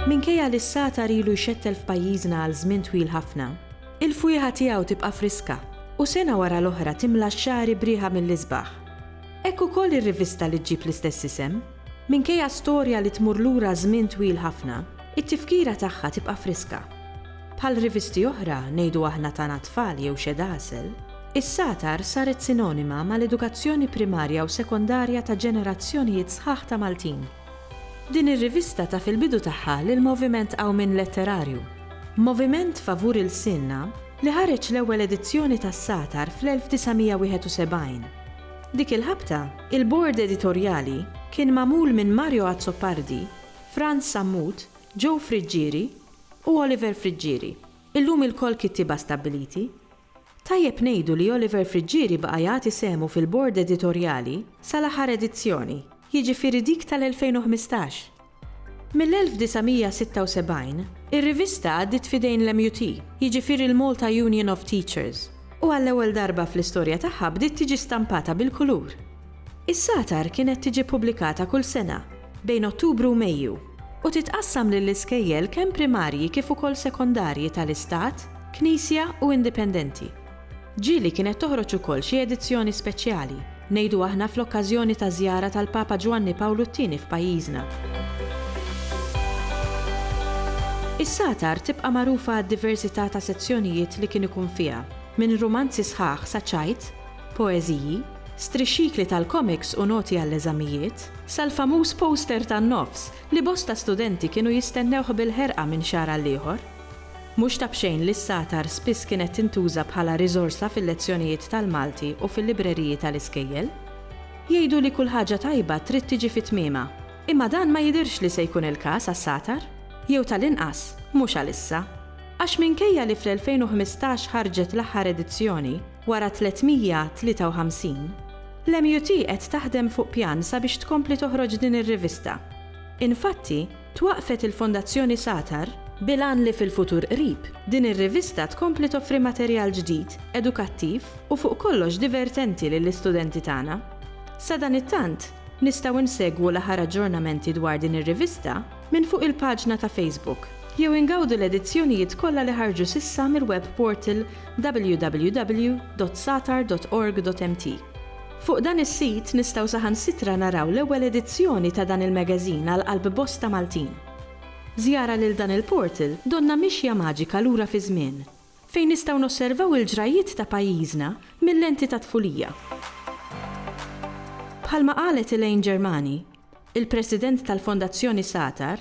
Minkejja li s-satar ilu jxettel f'pajjiżna għal żmien twil ħafna, il-fwieħa tiegħu tibqa' friska u sena wara l-oħra timla x-xagħri b'riħa mill-isbaħ. Hekk ukoll ir-rivista li ġġib l-istess isem, Minkejja storja li tmur lura żmien twil ħafna, it-tifkira tagħha tibqa' friska. Bħal rivisti oħra, ngħidu aħna ta' na tfal jew xed għasel, is-Satar saret sinonima mal-edukazzjoni primarja u sekondarja ta' ġenerazzjonijiet sħaħ ta' Maltin. Din ir-rivista taf il-bidu tagħha lil moviment qawmien letterarju, Moviment Favur Ilsienna li ħareġ l-ewwel edizzjoni tas-Satar fl-1971, Dik il-ħabta, il-Bord Editorjali kien magħmul minn Mario Azzopardi, Frans Sammut, Joe Friggieri u Oliver Friggieri, illum ilkoll kittieba stabbiliti. Tajjeb ngħidu li Oliver Friggieri baqa' jagħti sehmu fil-Bord Editorjali sal-aħħar edizzjoni, jiġifieri dik tal-2015. Mill-1976, ir-rivista għaddiet f'idejn l-MUT, jiġifieri l-Malta Union of Teachers, u għall-ewwel darba fl-istorja tagħha bdiet tiġi stampata bil-kulur. Is-Satar kienet tiġi ppubblikata kull sena, bejn Ottubru u Mejju, u titqassam lill-iskejjel kemm primarji kif ukoll sekondarji tal-Istat, Knisja u Indipendenti. Ġieli kienet toħroġ ukoll xi edizzjoni speċjali, ngħidu aħna fl-okkażjoni taż-żjara tal-Papa Ġwanni Pawlu t-Tieni f'pajjiżna. Is-Satar tibqa' magħrufa għad-diversità ta' sezzjonijiet li kien ikun fiha, minn rumanzi sħaħ sa ċajt, poeżiji, strixxikli tal-komiks u noti għall-eżamijiet, sal-famuż poster tan-nofs li bosta studenti kienu jistennewh bil-ħerqa minn xahar għal ieħor. Mhux ta' b'xejn li s-satar spiss kienet tintuża bħala riżorsa fil-lezzjonijiet tal-Malti u fil-libreriji tal-iskejjel. Jgħidu li kull ħaġa tajba trid tiġi fi tmiemha, imma dan ma jidhirx li se jkun il-każ għas-satar, jew tal-inqas mhux għalissa. Għax minkejja li fl-2015 ħarġet l-aħħar edizzjoni, wara 353, l-MUT qed taħdem fuq pjan sabiex tkompli toħroġ din ir-rivista. Infatti, Twaqqfet il-Fondazzjoni Satar bil-għan li fil-futur qrib, din ir-rivista tkompli toffri materjal ġdid, edukattiv u fuq kollox divertenti lill-istudenti tagħna. Sadanittant, nistgħu nsegwu l-aħħar aġġornamenti dwar din ir-rivista minn fuq il-paġna ta' Facebook jew ingawdu l-edizzjonijiet kollha li ħarġu s'issa mill-web portal www.satar.org.mt. Fuq dan is-sit nistgħu saħansitra naraw l-ewwel edizzjoni ta' dan il-magazine għal qalb bosta Maltin. B'żjara lil dan il-portal donnha mixja maġika lura fiż-żmien, fejn nistgħu nosservaw il-ġrajjiet ta' pajjiżna mil-lenti tat-tfulija. Bħalma qalet Elaine Germani, il-President tal-Fondazzjoni Satar,